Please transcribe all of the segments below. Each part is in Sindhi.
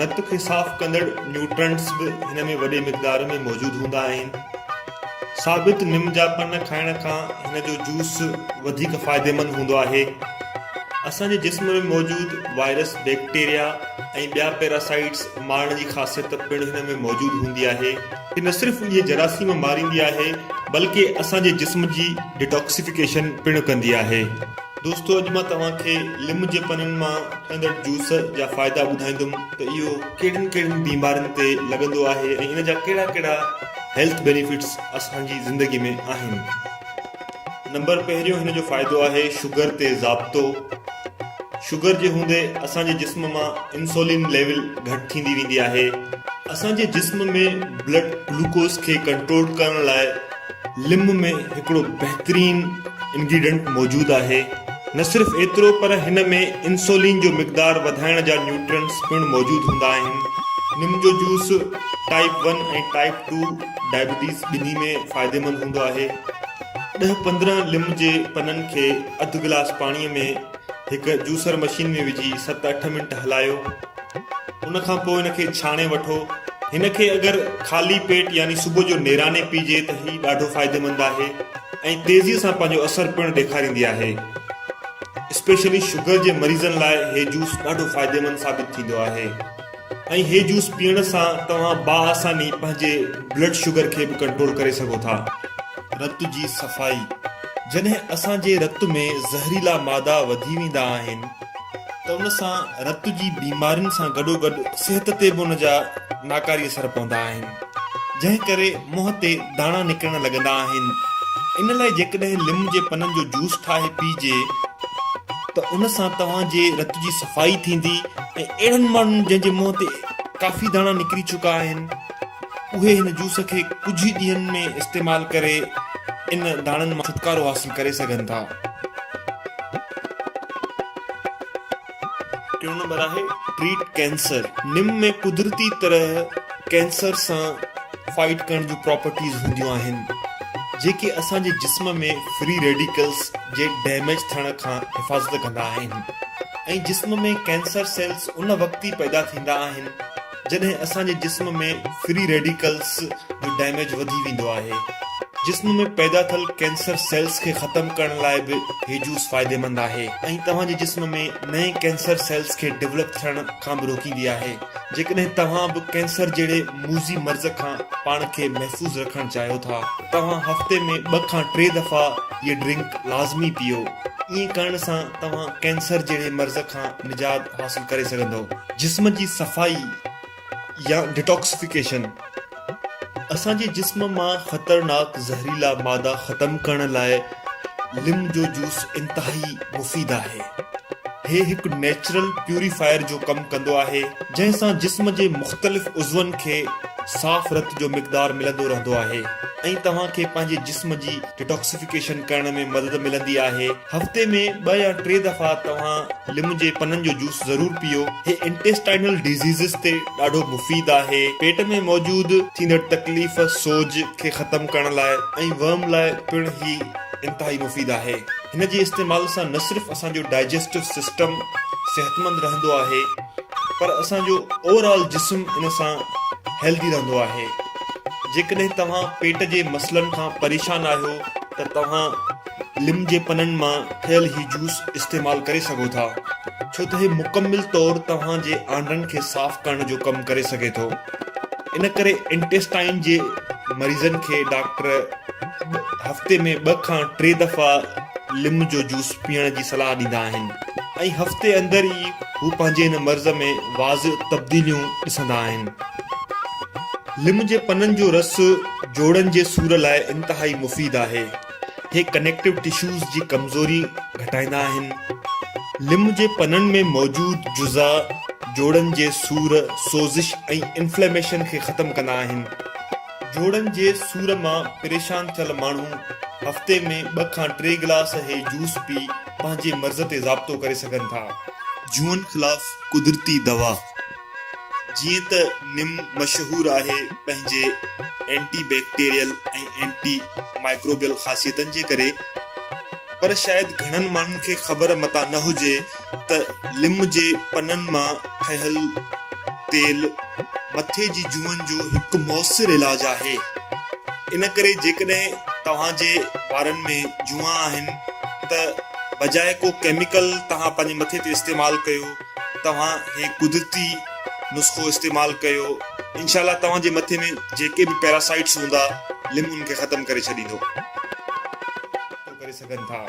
رت کي صاف ڪندڙ نيوٽرنٽس به هن ۾ وڏي مقدار ۾ موجود هوندا آهن. ثابت نم جا پن کائڻ کان هن جو جوس وڌيڪ فائديمند هوندو آهي. اسان جي جسم ۾ موجود وائرس، بيڪٽيريا ۽ ٻيا پيراسائيٽس مارڻ جي خاصيت پڻ هن ۾ موجود هوندي آهي. هي نه صرف اهي جراثيم ماريندي آهي بلڪه اسان جي جسم جي ڊيٽاڪسيفڪيشن پڻ ڪندي آهي. دوستو اڄ مان توهان کي لم جي پنن مان ڪندڙ جوس جا فائدا ٻڌائيندم ته اهو ڪهڙين ڪهڙين بيمارين تي لڳندو آهي ۽ ان جا ڪهڙا ڪهڙا هيلٿ بينيفٽس اسان جي زندگي ۾ آهن نمبر پهريون هن جو فائدو آهي شگر تي ضابطو شگر جي هوندي اسان جي جسم مان انسولين ليول گهٽ ٿيندي ويندي آهي اسان جي جسم ۾ بلڊ گلوڪوز کي ڪنٽرول ڪرڻ لاء ليمو ۾ هڪڙو بهترين انگريڊنٽ موجود آهي، نه صرف ايترو پر هن ۾ انسولين جو مقدار وڌائڻ جا نيوٽرنٽس پڻ موجود هوندا آهن. نم جو juice type one ۽ type two diabetes ٻنهي ۾ فائديمند هوندو آهي. ڏهه پندرهن ليم جي پنن کي اڌ گلاس پاڻي ۾ هڪ جوسر مشين ۾ وجهي ست اٺ منٽ هلايو. ان کان پوء ان کي ڇاڻي وٺو. هن کي اگر خالي پيٽ يعني صبح جو نيراني پيئجي ته هي ڏاڍو فائديمند آهي ۽ تيزي سان پنهنجو اثر پڻ ڏيکاريندي آهي. اسپيشلي شگر جي مريضن لاء هي جوس ڏاڍو فائديمند ثابت ٿيندو آهي ۽ هي جوس پيئڻ سان توهان باآساني پنهنجي بلڊ شگر کي به ڪنٽرول ڪري سگهو ٿا. رت جي صفائي، جڏهن اسان جي رت ۾ زهريلا مادا وڌي ويندا آهن، ته ان سان رت جي بيمارين سان گڏوگڏ صحت تي به ان جا ناڪاري اثر پوندا آهن، جنهن ڪري منهن تي داڻا نڪرڻ لڳندا آهن. ان لاء جيڪڏهن ليمن جي پنن جو جوس ٺاهي پيئجي ته ان سان توهان جي رت جي صفائي ٿيندي ۽ اهڙن ماڻهن جنهن جي منهن تي ڪافي داڻا نڪري چڪا آهن اهي هن جوس کي ڪجهه ئي ڏينهن ۾ استعمال ڪري ان داڻن مان ڇوٽڪارو حاصل ڪري سگهن ٿا. ٽيون نمبر آهي ٽريٽ ڪينسر نم ۾ قدرتي طرح ڪينسر سان فائيٽ ڪرڻ جون پراپرٽيز هونديون آهن جيڪي اسان جي جسم ۾ فري ريڊيڪلز جي ڊيميج ٿيڻ کان حفاظت ڪندا آهن ۽ جسم ۾ ڪينسر سيلز ان وقت ئي پيدا ٿيندا آهن جڏهن اسان جي جسم ۾ فري ريڊيڪلز جو ڊيميج وڌي ويندو آهي. جسم ۾ پيدا ٿيل ڪينسر سيلز کي ختم ڪرڻ لاء به هي جوس فائديمند آهي. ۽ توهان جي جسم ۾ نئين ڪينسر سيلز کي ڊولپ ٿيڻ کان به روڪيندي آهي. جيڪڏهن توهان به ڪينسر جهڙي موذي مرض کان پاڻ کي محفوظ رکڻ چاهيو ٿا. توهان هفتي ۾ ٻه کان ٽي دفعا هيء ڊرنڪ لازمي پيئو. ائين ڪرڻ سان توهان ڪينسر جهڙي مرض کان نجات حاصل ڪري سگهندؤ. جسم جي صفائي يا ڊيٽاڪسفيڪيشن، اسان جي جسم مان خطرناڪ زهريلا مادا ختم ڪرڻ لاء ليمن جو جوس انتهائي مفيد آهي. هي هڪ نيچرل پيوريفائر جو ڪم ڪندو آهي. جنهن سان جسم جي مختلف عضون کي صاف رت جو مقدار ملندو رهندو آهي ۽ توهان کي پنهنجي جسم جي ڊيٽاڪسفيڪيشن ڪرڻ ۾ مدد ملندي آهي. هفتي ۾ ٻه يا ٽي دفعا توهان ليمن جي پنن جو جوس ضرور پيئو. هي انٽيسٽائنل ڊيزيزز تي ڏاڍو مفيد آهي. پيٽ ۾ موجود ٿيندڙ تڪليف، سوڄ، کي ختم ڪرڻ لاء ۽ ورم لاء پڻ هي انتهائي مفيد آهي. هن جي استعمال سان نه صرف اسان جو ڊائجسٽو سسٽم صحتمند رهندو آهي پر اسان جو اوور آل جسم ان سان هيلڌي رهندو آهي. جيڪڏهن توهان پيٽ جي مسئلن کان پريشان آهيو ته توهان ليمن جي پنن مان ٺهيل هي جوس استعمال ڪري سگهو ٿا ڇو ته هي مڪمل طور توهان جي آنڊن کي صاف ڪرڻ جو ڪم ڪري سگهي ٿو ان ڪري انٽيسٽائن جي مريضن کي ڊاڪٽر هفتي ۾ ٻه کان ٽي دفعا ليمن جو جوس پيئڻ جي صلاح ڏيندا آهن ۽ هفتي اندر ئي هو پنهنجي هن مرض ۾ واضع تبديليون ڏسندا آهن ليمن جي پنن جو رس جوڙن جي سور لاء انتهائي مفيد آهي هي ڪنيڪٽو ٽشوز جي ڪمزوري گهٽائيندا آهن. ليمو جي پنن ۾ موجود جزا جوڙن جي سور، سوزش ۽ انفليميشن کي ختم ڪندا آهن. جوڙن جي سور مان پريشان ٿيل ماڻهو هفتي ۾ ٻه کان ٽي گلاس هي جوس پي پنهنجي مرض تي ضابطو ڪري سگهن ٿا. جون خلاف قدرتي دوا. جيئن ته نم مشهور آهي پنهنجي اينٽي بيڪٽيريل ۽ اينٽي مائڪروبيل خاصيتن جي ڪري پر شايد گهڻن ماڻهن کي خبر متان نه هجي ته لم جي پنن مان ٺهيل تيل مٿي جي جوئن جو هڪ موثر علاج آهي ان ڪري جيڪڏهن توهان جي وارن ۾ جوئان آهن ته بجاء ڪو ڪيميڪل توهان پنهنجي مٿي تي استعمال ڪيو توهان هي قدرتي نسخو استعمال ڪيو انشاء الله توهان جي مٿي ۾ جيڪي به پيراسائيٽس هوندا ليمو ان کي ختم ڪري ڇڏيندو. ڪري سگهن ٿا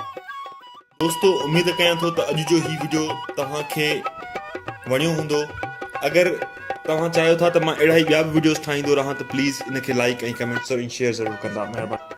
دوستو اميد ڪيان ٿو ته اڄ جو هي وڊيو توهان کي وڻيو هوندو اگر توهان چاهيو ٿا ته مان اهڙا ئي ٻيا به وڊيوز ٺاهيندو رهان ته پليز ان کي لائڪ ۽ ڪمينٽس ۽ شيئر ضرور ڪندا مهرباني